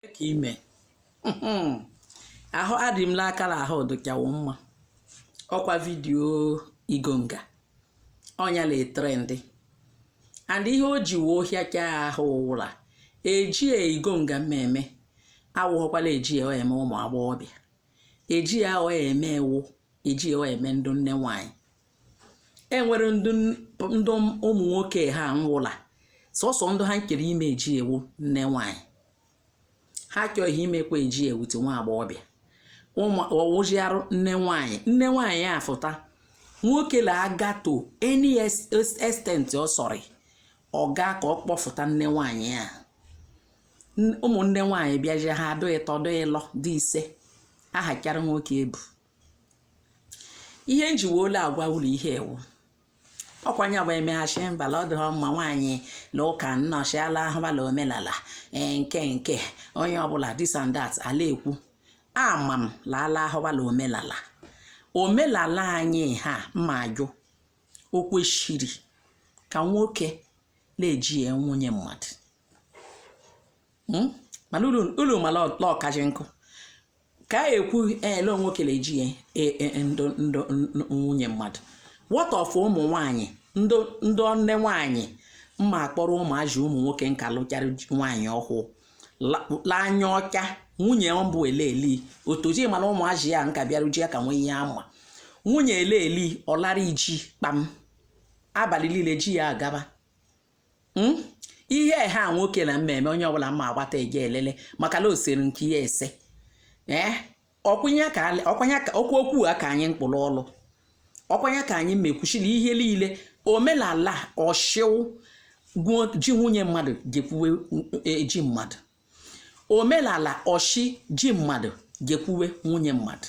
ka ime ahụ adị m n'akara ahụ dụchawo mma ọkwa video igonga ọnya la trend and ihe o ji wee ohịa ka ahụ wụ la ejie igonga mma eme awụghọkwa la eji ya eme ụmụ agbọghọbịa eji ya eme wụ eji ya eme ndụ nne nwanyị enwere ndụ ụmụ nwoke ha nwụ la sọsọ ndụ ha nkere ime eji ewu nne nwanyị ha chọghị imekwa eji ewute nwa agbọghọbịa ọ wụzi arụ nne nwanyị afụta nwoke la aga to any extent ọ sọrị ọ ga ka ọ kpọfụta nne nwanyị a ụmụnne nwanyị bịazie ha adụ ịtọ dụ ịlọ dị ise aha karị nwoke ebu ihe m ji wee la agwa ulu ihe a wụ ọkwa nya bụ emeghachi mbala ọ dịghị mma nwaanyị la ụka nnọchiala ahụbala omenala ee nke nke onye ọbụla this and that a la ekwu ama m la ala ahụbala omenala omenala anyị ha mma ajụ o kwesịrị ka nwoke na-eji ya nwunye mmadụ mana ulu ma la ọkaji nkụ ka ekwu ele nwoke la eji ya e- e- e- ndụ ndụ n- n- nwunye mmadụ what of ụmụ nwanyị ndụ ndụ nne nwanyị mma akpọrọ ụmụazị ụmụ nwoke nka lụchara ji- nwaanyị ọhụụ la- la anya ọcha nwunye mbụ eleli otoji mana ụmụazị ya nka bịara ji ya ka nwee ihe ama nwunye eleli ọ lara iji kpam abalị niile ji ya agaba hmm? ihe a nwoke na mmemme onye ọbụla mma agbata eje elele maka la o seru nke ya ese ee eh? ọkwanye ka ọkwa okwu a ka anyị kpụ l'ọlụ ọkwa nya ka anyị mekwuchiri ihe niile omenala ọ shị wụ ji nwunye mmadụ jekwuwe e, ji mmadụ omenala ọ shị ji mmadụ jekwuwe nwunye mmadụ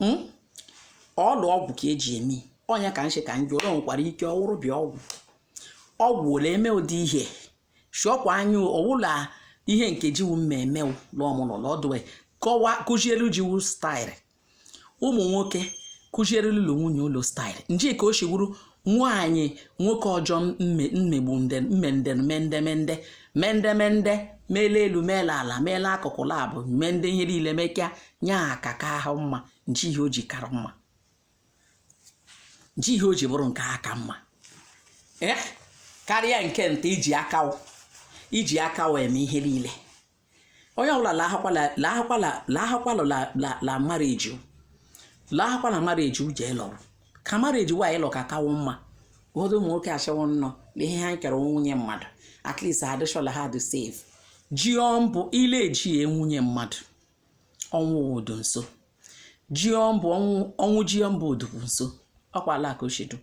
hmm? ọdụ ọgwụ ka eji eme ọ nya ka m shị ka m jụ ulu nwekwara ike ọ wụrụ bịa ọgwụ ọgwụ la eme ụdị ihe shọkwa anya ọ wụ la ihe nke ji wu mma eme lụọmụlọ lọdụ kọwa kụziere ji wu style ụmụ nwoke kụziere ụlọ nwunye ulu style nje ka o shiwuru nwaanyị nwoke ọjọọ mmegbu mmendemendemende mendemende meela elu meela ala meela akụkụ labụ mee ndị ihe niile mekịa nye aka ka ahụ mma nji ihe o ji kara mma nji ihe o ji bụrụ nke aka mma ee eh? karịa nke nta iji akawo iji aka eme ihe niile onye ọbụla lahakwala marriage lahakwala marriage uche ịlọ ka marriage wa ịlọ ka kawo mma ụfọdụ ụmụ nwoke achọwo nnọọ na ihe ha nkere nwunye mmadụ at least adịshọla ha dị safe ji mbụ ile eji nwunye mmadụ ọnwụ obodo nso jiọmbụ ọnwụ ọnwụ jiọmbụ ọ dụkwụ nso ọkwa ala ka ochedu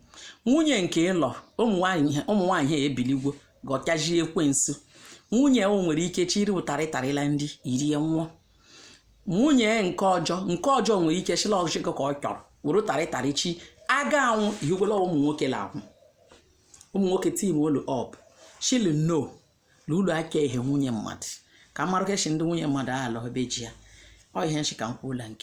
nwunye nke ịlọ ụmụ nwaanyị ha- ụmụ nwaanyị ha ebiligwo gọtaji ekwensu nwunye o nwere ike chiri ụtarị tarịla ndị irie nwụọ nwunye nke ọjọọ nke ọjọọ nwere ike chịla ọchịkọ ka ọ chọrọ were ụtarị tarị chi a ga-anwụ ị hụgola ụmụ nwoke la-anwụ ụmụ nwoke tim olu ọp chili no na ụlọ aka ehe nwunye mmadụ ka mmarụ kechi ndị nwunye mmadụ alọ ebe ji ya ọ ihe nchi ka m kwuola nke